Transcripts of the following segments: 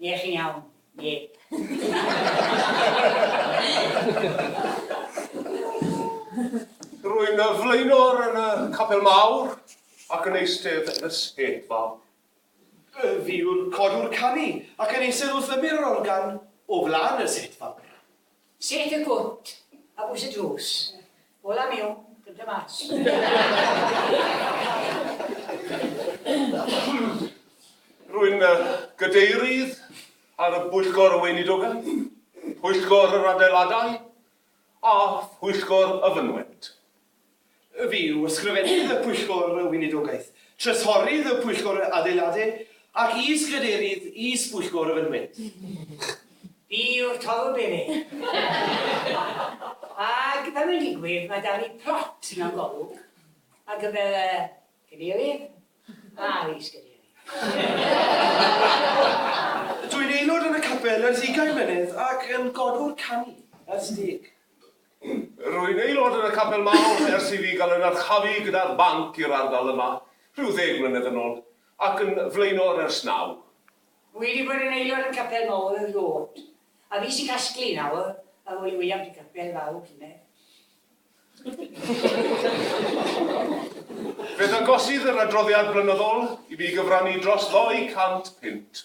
Ie, chi'n iawn. Ie. Rwy'n y flaenor yn y capel mawr ac yn eistedd yn y seffa. Fi yw'r codwr canu ac yn eistedd wrth y mirror gan o flan y set fawr. Sut y cwt a bwys y drws. Ola miwn, cynta mas. Rwy'n gadeirydd ar y Bwyllgor Weinidogaeth, Pwyllgor yr Adeiladau a Phwyllgor y Fynwent. Ef yw Ysgrifennydd y Pwyllgor y Weinidogaeth, Trysorydd y Pwyllgor Adeiladu ac Is-Gadeirydd Is-bwyllgor y Fynwent. Fi yw'r Toddle Bene. Ac fel mae'n digwydd, mae 'da fi plot mewn golwg ar gyfer y Cadeirydd a'r Is-gadeirydd. Dw i'n aelod yn y capel ers ugain mlynedd ac yn godwr canu, ers deg. Rwy'n aelod yn y Capel Mawr ers i fi gael yn archafu gyda'r banc i'r ardal yma rhyw ddeg mlynedd yn ôl, ac yn flaenor ers naw. Wi wedi bod yn aelod yn Capel Mawr erioed, a fi sy'n casglu nawr ar ôl i William de Capel farw llynedd. Fe ddangosydd yr adroddiad blynyddol i mi gyfrannu dros ddou cant punt.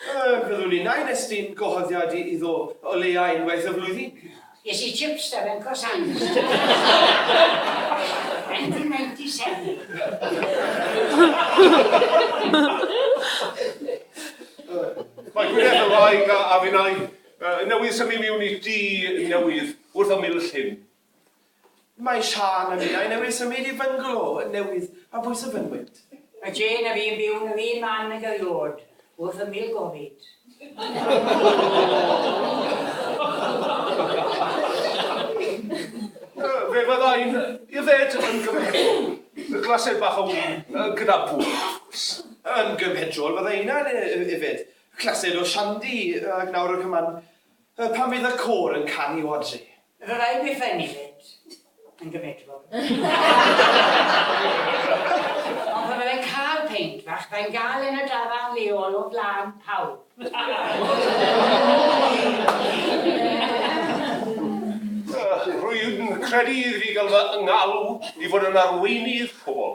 Yy, byddwn innau'n estyn gwahoddiad i iddo o leia unwaith y flwyddyn. Ges i chips da fe'n Croissants. 1997. Mae Gwyneth yn wraig a finnau. Newydd symud miwn i dŷ newydd wrth ymyl llyn. Mae Siân a minnau newydd symud i fyngalo newydd a bwys y fynwent. Mae Jane a fi'n byw'n yr un man ag eriôd wrth ymyl gofid. Fe fyddai'n yfed yn gymhedrol, glased bach o win gyda bŵs. Yn gymhedrol fyddai innau'n yfed clased o shandi ac nawr a cyman pan fydd y côr yn canu o adre. Fy rhaid mi fenefit yn gymedrol. Ond pan fyddai'n cael peint fach, byddai'n gael e'n y dafarn leol o flaen pawb. Rwy'n credu iddi gael fy ngalw i fod yn arweinydd pobl.